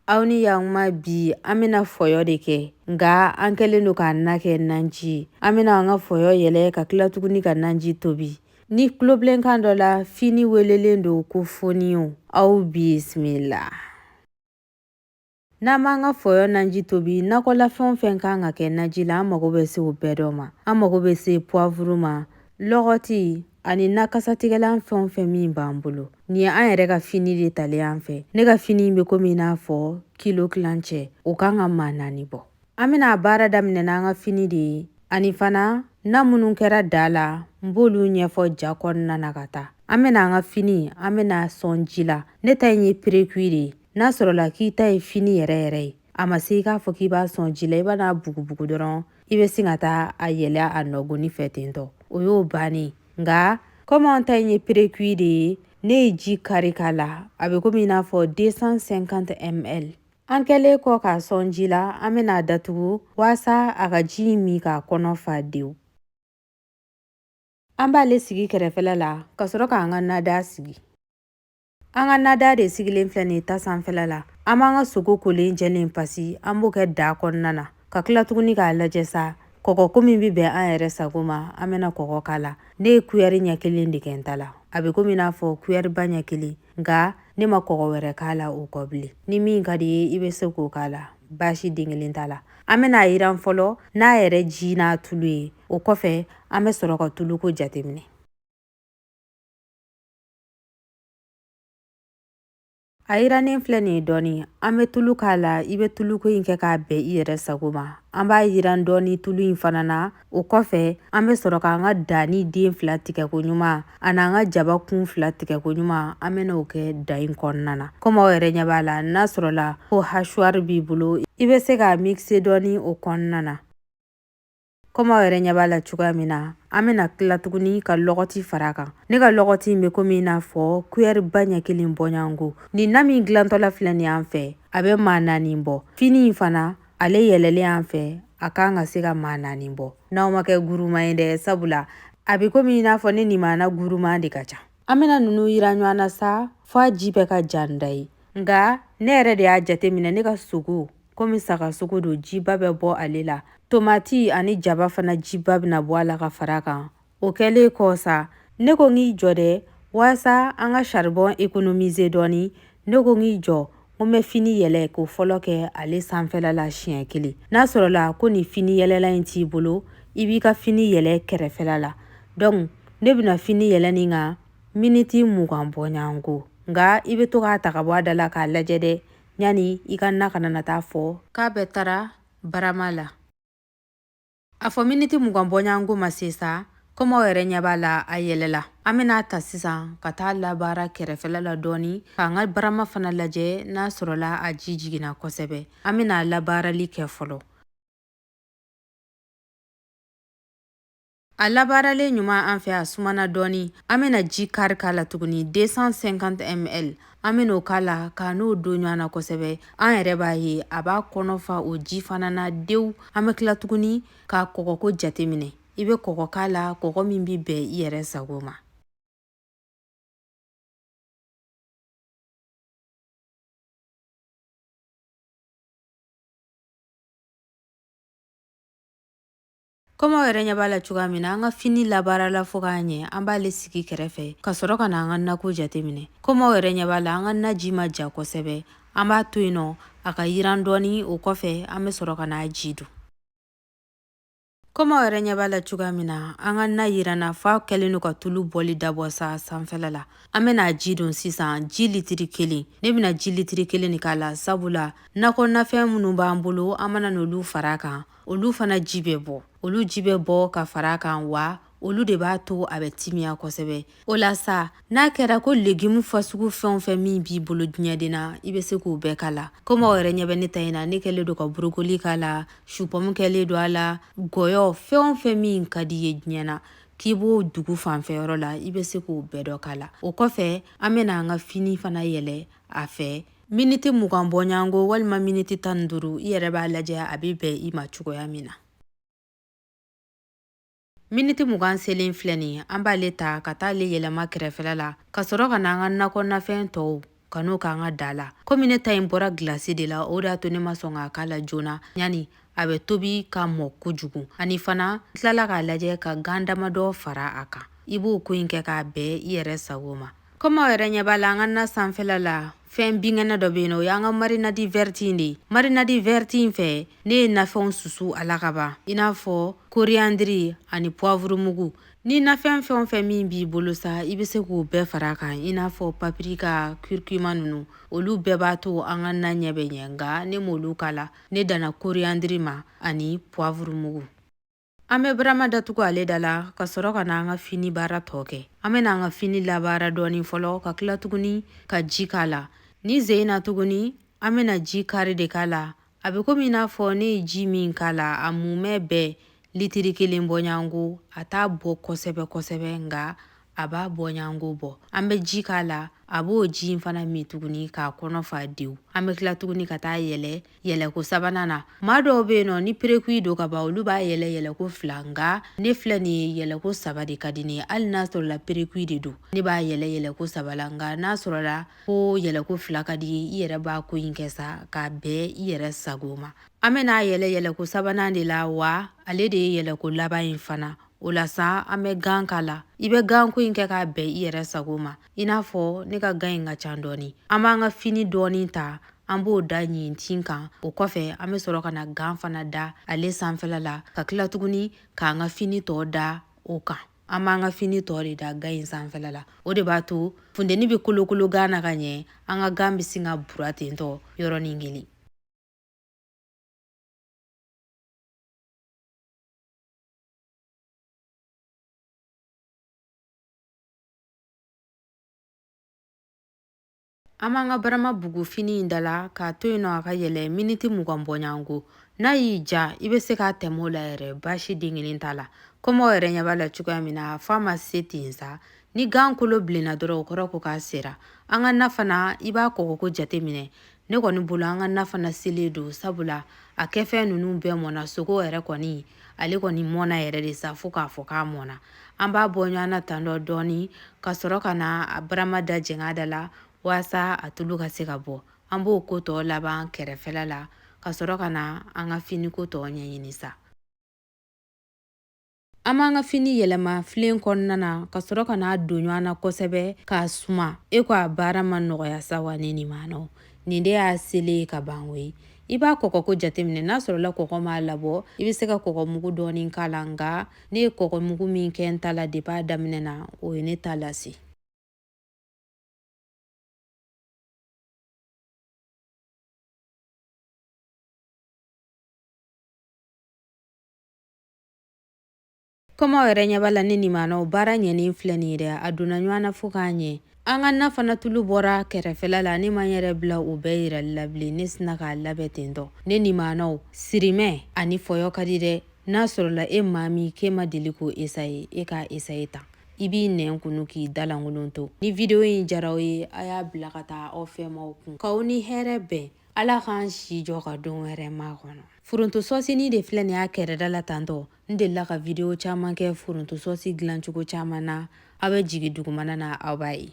aw ni yakuma bi an bɛna fɔyɔ de kɛ nka an kɛlen don k'a na kɛ nanji an bɛna an ka fɔyɔ yɛlɛ ka tila tuguni ka nanji tobi ni tulobilenkan dɔ la fini welelen don ko foniyo aw bisimila n'an b'an ka fɔyɔ nanji tobi nakɔlafɛn fɛn kan ka kɛ naji la an mago bɛ se o bɛɛ dɔ ma an mago bɛ se puwavuru ma Lɔgɔti ani na kasatigɛlan fɛn o fɛn min b'an bolo nin ye an yɛrɛ ka fini de talen an fɛ ne ka fini in bɛ komi i n'a fɔ kilo tilancɛ o kan ka maa naani bɔ an bɛna a baara daminɛ n'an ka fini de ye ani fana na minnu kɛra da la n b'olu ɲɛfɔ ja kɔnɔna na ka taa an bɛna an ka fini an bɛna a sɔn ji la ne ta in ye perekui de ye n'a sɔrɔla k'i ta ye fini yɛrɛ yɛrɛ ye a ma se i k'a fɔ k'i b'a sɔn ji la i bɛn'a bugubugu dɔrɔn i bɛ sin ka taa a yɛlɛ a nɔgɔnni fɛ ten tɔ o y'o bannen nka kɔmi an ta in ye perekui de ye ne ye ji kari k'a la a bɛ komi n'a fɔ 250 ml an kɛlen kɔ k'a sɔn ji la an bɛna a datugu waasa a ka ji in min k'a kɔnɔ fa dewu an b'ale sigi kɛrɛfɛla la ka sɔrɔ k'an ka nada sigi An ka nada de sigilen filɛ nin ye ta sanfɛla la an b'an ka sogo kolen jɛlen pasi an b'o kɛ da kɔnɔna na ka tila tuguni k'a lajɛ sa kɔgɔko min bɛ bɛn an yɛrɛ sago ma an bɛna kɔgɔ k'a la ne ye kuyɛri ɲɛ kelen de kɛ n ta la a bɛ komi n'a fɔ kuyɛriba ɲɛ kelen nka ne ma kɔgɔ wɛrɛ k'a la o kɔ bilen ni min ka d'i ye i bɛ se k'o k'a la baasi den kelen t'a la an bɛna a yiran fɔlɔ n'a yɛrɛ ji n'a tulu ye o kɔfɛ an bɛ sɔrɔ ka tuluko jateminɛ A yirannen filɛ nin ye dɔɔnin an bɛ tulu k'a la i bɛ tuluko in kɛ k'a bɛn i yɛrɛ sago ma an b'a yiran dɔɔni tulu in fana na o kɔfɛ an bɛ sɔrɔ k'an ka danni den fila tigɛko ɲuman ani an ka jaba kun fila tigɛko ɲuman an bɛn'o kɛ da in kɔnɔna na kɔmi aw yɛrɛ ɲɛ b'a la n'a sɔrɔla ko hachoir b'i bolo i bɛ se k'a mixer dɔɔni o kɔnɔna na kɔmi aw yɛrɛ ɲɛ b'a la cogoya min na an bɛna tila tuguni ka lɔgɔti fara kan ne ka lɔgɔti in bɛ komi n'a fɔ kuyɛriba ɲɛ kelen bɔɲɔgɔnko nin na min dilantɔla filɛ nin y'an fɛ a bɛ maa naani bɔ fini in fana ale yɛlɛlen an fɛ a kan ka se ka maa naani bɔ n'aw ma kɛ guruma ye dɛ sabula a bɛ komi n'a fɔ ne ni n maa na guruma de ka ca an bɛna ninnu yiran ɲɔgɔn na sa f'a ji bɛɛ ka ja n da ye nka ne yɛrɛ de y'a jateminɛ ne ka sogo komi saga sogo don jiba bɛ bɔ ale la tomati ani jaba fana jiba bɛna bɔ a la ka fara kan o kɛlen kɔ sa ne ko k'i jɔ dɛ walasa an ka saribɔn ekonomize dɔɔni ne ko k'i jɔ ko n bɛ fini yɛlɛ k'o fɔlɔ kɛ ale sanfɛla la siɲɛ kelen n'a sɔrɔla ko nin finiyɛlɛlan in t'i bolo i b'i ka fini yɛlɛ kɛrɛfɛla la donc ne bɛna fini yɛlɛ nin kan miniti mugan bɔɲɔgɔnko nka i bɛ to k'a ta ka bɔ a da la k'a lajɛ dɛ yanni i ka na kana na taa fɔ k'a bɛɛ taara barama la a fɔ miniti mugan bɔɲɔgɔnko ma se sa komi aw yɛrɛ ɲɛ b'a la a yɛlɛla an bɛn'a ta sisan ka taa labaara kɛrɛfɛla la dɔɔni k'an ka barama fana lajɛ n'a sɔrɔla a ji jiginna kosɛbɛ an bɛna a labaarali kɛ fɔlɔ A labaaralen ɲuman an fɛ a sumana dɔɔnin an bɛna ji kari k'a la tuguni 250 ml an bɛna o k'a la ka n'o don ɲɔgɔn na kosɛbɛ an yɛrɛ b'a ye a b'a kɔnɔ fa o ji fana na dewu an bɛ tila tuguni k'a kɔgɔko jateminɛ i bɛ kɔgɔ k'a la kɔgɔ min bɛ bɛn i yɛrɛ sago ma Komi aw yɛrɛ ɲɛ b'a la cogoya min na an ka fini labaarala fo k'a ɲɛ an b'ale sigi kɛrɛfɛ ka sɔrɔ ka na an ka nako jateminɛ komi aw yɛrɛ ɲɛ b'a la an ka naji ma ja kosɛbɛ an b'a to yen nɔ a ka yiran dɔɔni o kɔfɛ an bɛ sɔrɔ ka n'a ji don komi aw yɛrɛ ɲɛ b'a la cogoya min na an ka na yiranna f'a kɛlen don ka tulu bɔli dabɔ sa sanfɛla la an bɛna ji don sisan ji litiri kelen ne bɛna ji litiri kelen de k'a la sabula nakɔnafɛn minnu b'an bolo an mana n'olu fara kan olu fana ji bɛ bɔ olu ji bɛ bɔ ka fara kan wa olu de b'a to a bɛ timiya kosɛbɛ o la sa n'a kɛra ko legimu fasugu fɛn o fɛn min b'i bolo diɲɛden na i bɛ se k'o bɛɛ k'a la komi aw yɛrɛ ɲɛ bɛ ne ta in na ne kɛlen don ka borokoli k'a la supɔmu kɛlen don a la gɔyɔ fɛn o fɛn min ka di i ye diɲɛ na k'i b'o dugu fanfɛ yɔrɔ la i bɛ se k'o bɛɛ dɔ k'a la o kɔfɛ an bɛna an ka fini fana yɛlɛ a fɛ Miniti mugan bɔɲɔgɔnko walima miniti tan ni duuru i yɛrɛ b'a lajɛ a bɛ bɛn i ma cogoya min na. Miniti mugan selen filɛ nin ye, an b'ale ta ka taa ale yɛlɛma kɛrɛfɛla la, ka sɔrɔ ka na an ka nakɔnafɛn tɔw ka n'o k'an ka da la. Komi ne ta in bɔra gilasi de la, o de y'a to ne ma sɔn k'a k'a la joona yanni a bɛ tobi ka mɔ kojugu. Ani fana, n tilala k'a lajɛ ka gan damadɔ fara a kan. I b'o ko in kɛ k'a bɛn i yɛrɛ sago ma. kɔmi aw yɛrɛ ɲɛ b'a la an ka na sanfɛla la fɛn binkɛnɛ dɔ bɛ yen nɔ o y'an ka marinadi vɛriti in de ye marinadi vɛriti in fɛ ne ye nafɛnw susu a la ka ban i n'a fɔ koriyandiri ani puwavurumugu ni nafɛn fɛn o fɛn min b'i bolo sa i bɛ se k'o bɛɛ fara a kan i n'a fɔ papirika kirikima ninnu olu bɛɛ b'a to an ka na ɲɛ bɛ ɲɛ nka ne m'olu k'a la ne danna koriyandiri ma ani puwavurumugu An bɛ barama datugu ale da la ka sɔrɔ ka na an ka fini baara tɔ kɛ. An bɛna an ka fini labaara dɔɔni fɔlɔ ka tila tuguni ka ji k'a la. Nin sen in na tuguni, an bɛna ji kari de k'a la. A bɛ komi i n'a fɔ ne ye ji min k'a la, a mumɛ bɛɛ litiri kelen bɔɲango. A t'a bɔ kosɛbɛ kosɛbɛ nka a b'a bɔɲango bɔ. An bɛ ji k'a la, a b'o ji in fana min tuguni k'a kɔnɔ fa dewu. An bɛ tila tuguni ka taa yɛlɛ yɛlɛko sabanan na maa dɔw bɛ yen nɔ ni perekui don ka ban olu b'a yɛlɛ yɛlɛko fila nka ne filɛ nin ye yɛlɛko saba de ka di ne ye hali n'a sɔrɔla perekui de don ne b'a yɛlɛ yɛlɛko saba la nka n'a sɔrɔla ko yɛlɛko fila ka d'i ye i yɛrɛ b'a ko in kɛ sa k'a bɛn i yɛrɛ sago ma an bɛn'a yɛlɛ yɛlɛko sabanan de la wa ale de ye yɛlɛko laban in fana o la sa an bɛ gan k'a la i bɛ ganko in kɛ k'a bɛn i yɛrɛ sago ma i n'a fɔ ne ka gan in ka ca dɔɔni an b'an ka fini dɔɔni ta an b'o da ɲintin kan o kɔfɛ an bɛ sɔrɔ ka na gan fana da ale sanfɛla la ka tila tuguni k'an ka fini tɔ da o kan an b'an ka fini tɔ de da gan in sanfɛla la o de b'a to funteni bɛ kolokolo gan na ka ɲɛ an ka gan bɛ sin ka bura tentɔ yɔrɔnin kelen An b'an ka barama bugu fini in da la k'a to yen nɔ a ka yɛlɛ miniti mugan bɔɲango n'a y'i ja i bɛ se k'a tɛmɛ o la yɛrɛ baasi den kelen t'a la komi aw yɛrɛ ɲɛ b'a la cogoya min na f'a ma se ten sa ni gan kolo bilenna dɔrɔn o kɔrɔ ko k'a sera an ka na fana i b'a kɔgɔko jateminɛ ne kɔni bolo an ka na fana selen don sabula a kɛfɛn ninnu bɛɛ mɔna sogo yɛrɛ kɔni ale kɔni mɔna yɛrɛ de sa fo k'a fɔ k'a mɔna an b'a bɔ ɲɔgɔn na tan dɔ dɔɔni ka sɔrɔ ka na a barama da jɛng'a da la walasa a tulu ka se ka bɔ an b'o ko tɔ laban kɛrɛfɛla la ka sɔrɔ ka na an ka finiko tɔ ɲɛɲini sa An b'an ka fini yɛlɛma filen kɔnɔna na ka sɔrɔ ka n'a don ɲɔgɔn na kosɛbɛ k'a suma e ko a baara ma nɔgɔya sa wa ne nimanaw nin de y'a selen ye ka ban koyi i b'a kɔgɔko jateminɛ n'a sɔrɔla kɔgɔ m'a labɔ i bɛ se ka kɔgɔmugu dɔɔnin k'a la nka ne ye kɔgɔmugu min kɛ n ta la depuis a daminɛ na o ye ne ta lase komi aw yɛrɛ ɲɛ b'a la ne nimanaw baara ɲɛnen filɛ nin ye dɛ a donna ɲɔgɔn na fo k'a ɲɛ an ka na fana tulu bɔra kɛrɛfɛla la ne ma n yɛrɛ bila o bɛɛ yirali la bilen ne sinna k'a labɛn ten tɔ ne nimanaw sirimɛ ani fɔyɔ ka di dɛ n'a sɔrɔla e maa min k'e ma deli k'o esaye e k'a esaye tan i b'i nɛn kunu k'i dalankolon to ni videwo in jara aw ye a y'a bila ka taa aw fɛmaw kun k'aw ni hɛrɛ bɛn ala k'an si jɔ ka don wɛrɛ makɔnɔ foronto sɔsini de filɛ nin y'a kɛrɛda la tantɔ n delila ka vidiyo caman kɛ foronto sɔsi dilancogo caman na aw bɛ jigin dugumana na aw b'a ye